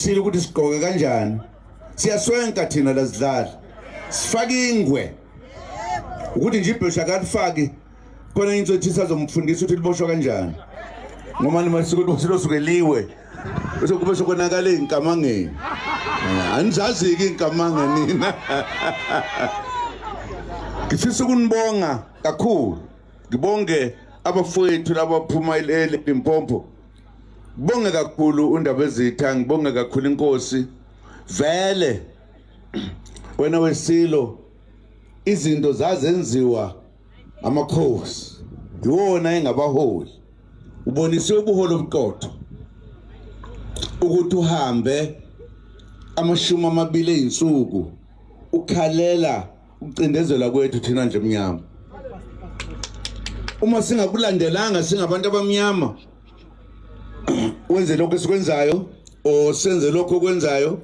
thina ukuthi sigqoke kanjani siyaswenka thina lazidlali sifake ingwe ukuthi nje ibhesha kalifaki khona into ethi sazomfundisa ukuthi liboshwa kanjani ngoba nimasuku ukuthi losukeliwe bese kube sokonakala izinkamangeni eh, anizaziki izinkamanga nina ngifisa ukunibonga kakhulu ngibonge abafowethu labaphuma eLimpompo Bonge kakhulu uNdabezitha, ngibonge kakhulu inkosi. Vele wena wesilo izinto zazenziwa amakhosi iwona engabaholi ubonise ubuholi obuqotho ukuthi uhambe amashumi amabili ezinsuku ukhalela ukucindezelwa kwethu thina nje mnyama uma singakulandelanga singabantu abamnyama wenze lokho esikwenzayo o senze lokho okwenzayo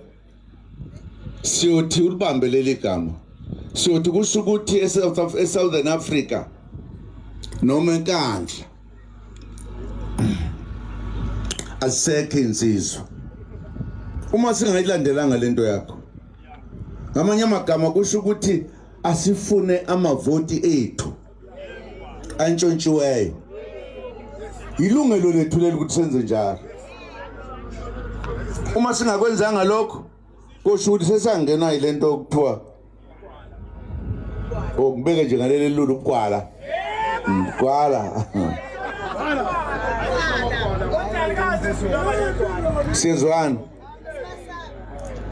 siyothi ulibambe leli gama siyothi kusho ukuthi e-southern africa noma enkandla azisekho insizwa uma singayilandelanga lento yakho ngamanye amagama kusho ukuthi asifune amavoti ethu antshontshiweyo yilungelo lethu leli ukuthi senze njalo uma singakwenzanga lokho kusho ukuthi sesangena ile nto okuthiwa okubeke nje ngaleli lulu ukwala ukwala sizwana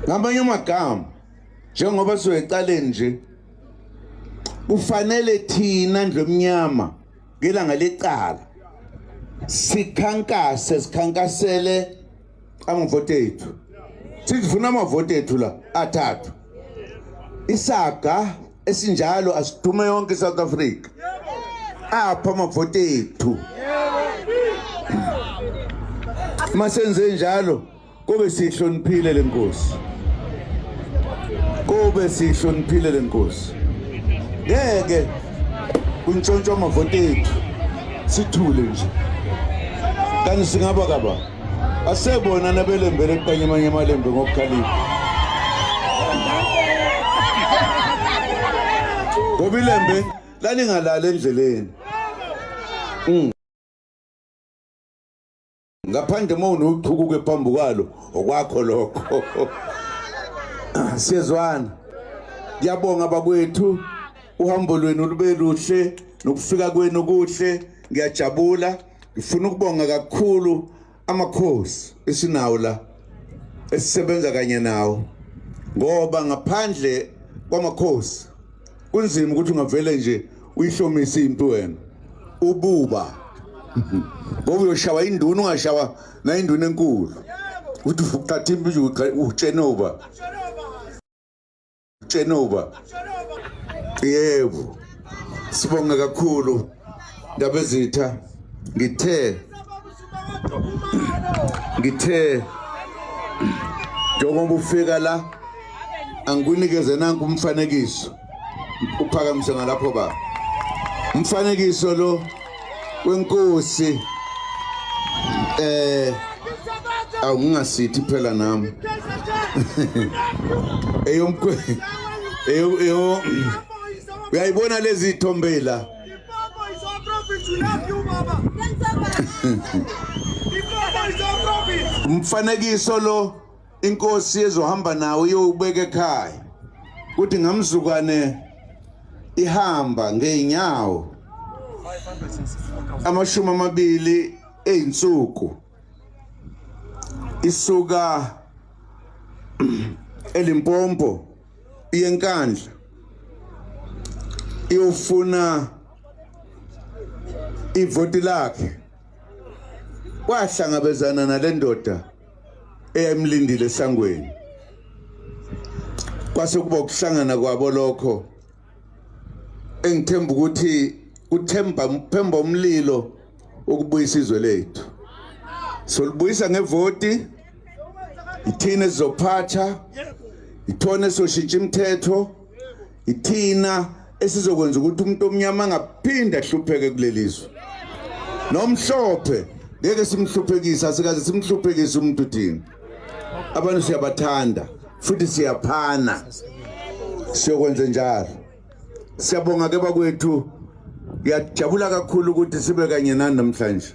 ngamanye amagama njengoba sizoyecaleni nje kufanele thina ndlu emnyama ngelanga lecala sikhankase sikhankasele amavoti ethu sithi funa amavoti ethu la athathu isaga esinjalo asidume yonke iSouth Africa apha amavoti ethu masenze njalo kube sihloniphile lenkosi kube sihloniphile lenkosi ngeke kuntshontshwa amavoti ethu sithule nje kanti singaba kaba asebona nabelembele eqanye amanye amalembe ngokukhalipha ngoba ilembe lalingalali endleleni mm. ngaphandle uma unochukuke phambi kwalo okwakho lokho siyezwana ngiyabonga bakwethu uhambo lwenu lube luhle nokufika kwenu kuhle ngiyajabula Ngifuna ukubonga kakhulu amakhosi esinawo la esisebenza kanye nawo ngoba ngaphandle kwamakhosi kunzima ukuthi ungavele nje uyihlomise impi wena ububa ngoba uyoshawa induna ungashawa nayinduna enkulu ukuthi uthatha impi nje utshenoba Tshenuba. Yebo. Sibonga kakhulu ndabezitha ngithe ngithe njengoba ufika la angikunikeze nanku umfanekiso uphakamise ngalapho baba umfanekiso lo kwenkosi eh awungasithi phela nami eyomkwe eyo eyo uyayibona lezi thombela umfanekiso lo inkosi ezohamba nawo iyowubeka ekhaya kuthi ngamzukwane ihamba ngeenyawo amashumi amabili eyinsuku isuka elimpompo iyenkandla iyofuna ivoti lakhe kwahlangabezana nalendoda eyayimlindile esangweni kwase kuba ukuhlangana kwabo lokho engithemba ukuthi uthemba phemba umlilo ukubuyisa izwe lethu solibuyisa ngevoti ithina sizophatha ithona soshintsha imithetho ithina esizokwenza ukuthi umuntu omnyama angaphinde ahlupheke kulelizwe nomhlophe ngeke simhluphekisa sikaze simhluphekise umuntu thina abantu siyabathanda futhi siyaphana siyokwenza njalo siyabonga ke bakwethu ngiyajabula kakhulu ukuthi sibe kanye nani namhlanje